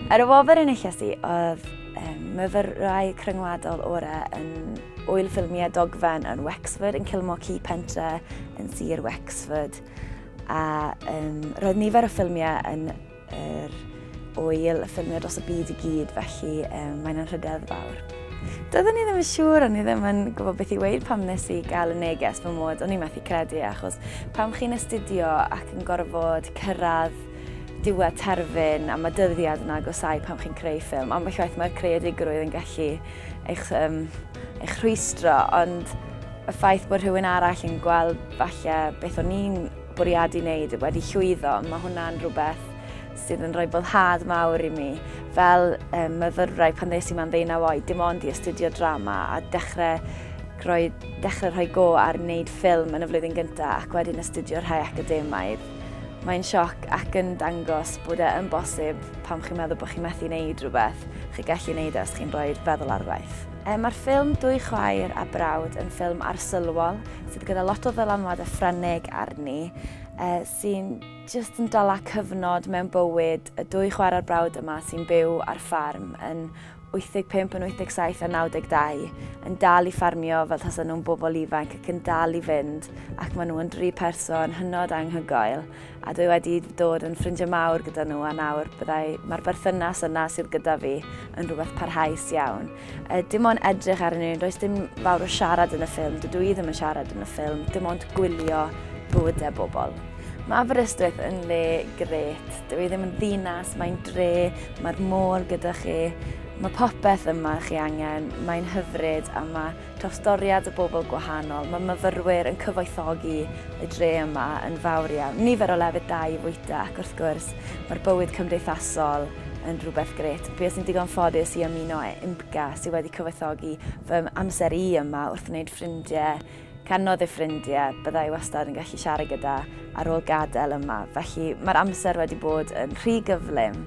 Ar y wobr enillais i oedd um, myfyrau cryngwladol orau yn wyl ffilmiau dogfen yn Wexford, yn Kilmore Key Pentre, yn Sir Wexford. A um, roedd nifer o ffilmiau yn yr er, oel y ffilmiau dros y byd i gyd, felly um, mae'n anrhydedd fawr. Doeddwn i ddim yn siŵr, o'n i ddim yn gwybod beth i weud pam nes i gael y neges fy mod, o'n i methu credu, achos pam chi'n astudio ac yn gorfod cyrraedd diwedd terfyn a mae dyddiad yn agosau pam chi'n creu ffilm. Ambell waith mae'r creadigrwydd yn gallu eich, um, eich rhwystro, ond y ffaith bod rhywun arall yn gweld falle beth o'n i'n bwriadu wneud wedi llwyddo, mae hwnna'n rhywbeth sydd yn rhoi boddhad mawr i mi. Fel um, myfyrwraig pan ddes i ma'n ddeunaw oed, dim ond i astudio drama a dechrau rhoi, dechrau rhoi go ar wneud ffilm yn y flwyddyn gyntaf ac wedyn astudio rhai academaidd. Mae'n sioc ac yn dangos bod e yn bosib pam chi'n meddwl bod chi'n methu wneud rhywbeth, chi gallu wneud e os chi'n rhoi'r feddwl ar waith. E, Mae'r ffilm Dwy Chwaer a Brawd yn ffilm arsylwol sydd gyda lot o ddylanwad a ffrenig arni, e, sy'n Jyst yn dala cyfnod mewn bywyd y dwy chwarae'r brawd yma sy'n byw ar ffarm yn 85 yn 87 a 92 yn dal i ffarmio fel tasa nhw'n bobl ifanc ac yn dal i fynd ac maen nhw yn dri person hynod anghygoel a dwi wedi dod yn ffrindiau mawr gyda nhw a nawr byddai mae'r berthynas yna sydd gyda fi yn rhywbeth parhaus iawn. Dim ond edrych arnyn nhw, does dim fawr o siarad yn y ffilm, dydw i ddim yn siarad yn y ffilm, dim ond gwylio bywydau bobl. Mae Aberystwyth yn le gret, dydw i ddim yn ddinas, mae'n dre, mae'r môr gyda chi, mae popeth yma chi angen, mae'n hyfryd a mae Trawstoriad o bobl gwahanol, mae myfyrwyr yn cyfoethogi y dre yma yn fawr iawn, nifer o lefydd da i fwyta ac wrth gwrs mae'r bywyd cymdeithasol yn rhywbeth grêt. Bues i'n digon ffodus i ymuno â IMCA sydd wedi cyfoethogi fy amser i yma wrth wneud ffrindiau, canodd y ffrindiau bydda i wastad yn gallu siarad gyda ar ôl gadael yma, felly mae'r amser wedi bod yn rhy gyflym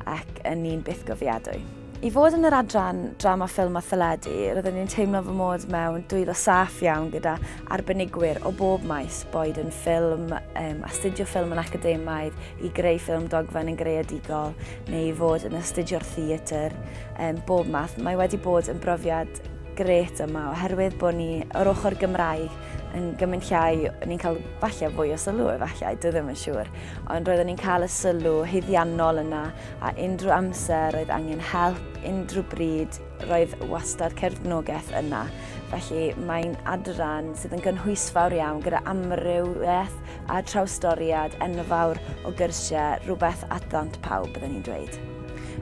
ac yn un bythgofiadwy. I fod yn yr adran drama ffilm a theledu, roeddwn i'n teimlo fy mod mewn dwylo saff iawn gyda arbenigwyr o bob maes, boed yn ffilm, um, astudio ffilm yn academaidd, i greu ffilm dogfen yn greadigol, neu i fod yn astudio'r theatr, um, bob math. Mae wedi bod yn brofiad gret yma oherwydd bod ni o'r ochr Gymraeg yn gymryd llai, ni'n cael falle fwy o sylw efallai, dwi ddim yn siŵr, ond roeddwn ni'n cael y sylw hyddiannol yna a unrhyw amser oedd angen help, unrhyw bryd, roedd wastad cefnogaeth yna. Felly mae'n adran sydd yn gynhwysfawr iawn gyda amrywiaeth a trawstoriad enfawr o gyrsiau, rhywbeth at ddant pawb byddwn ni'n dweud.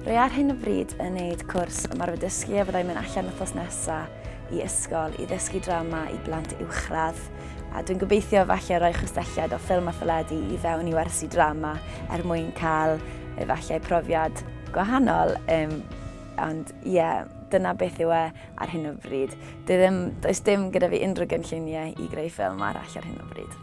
Rwy ar hyn o bryd yn neud cwrs ymarfer dysgu a fyddai'n mynd allan wythnos nesaf i ysgol i ddysgu drama i blant uwchradd. A dwi'n gobeithio falle rhoi chwistelliad o ffilm a theledu i fewn i wersi drama er mwyn cael efallai profiad gwahanol. Um, ond ie, yeah, dyna beth yw e ar hyn o bryd. Dwi ddim, does dim gyda fi unrhyw gynlluniau i greu ffilm arall ar hyn o bryd.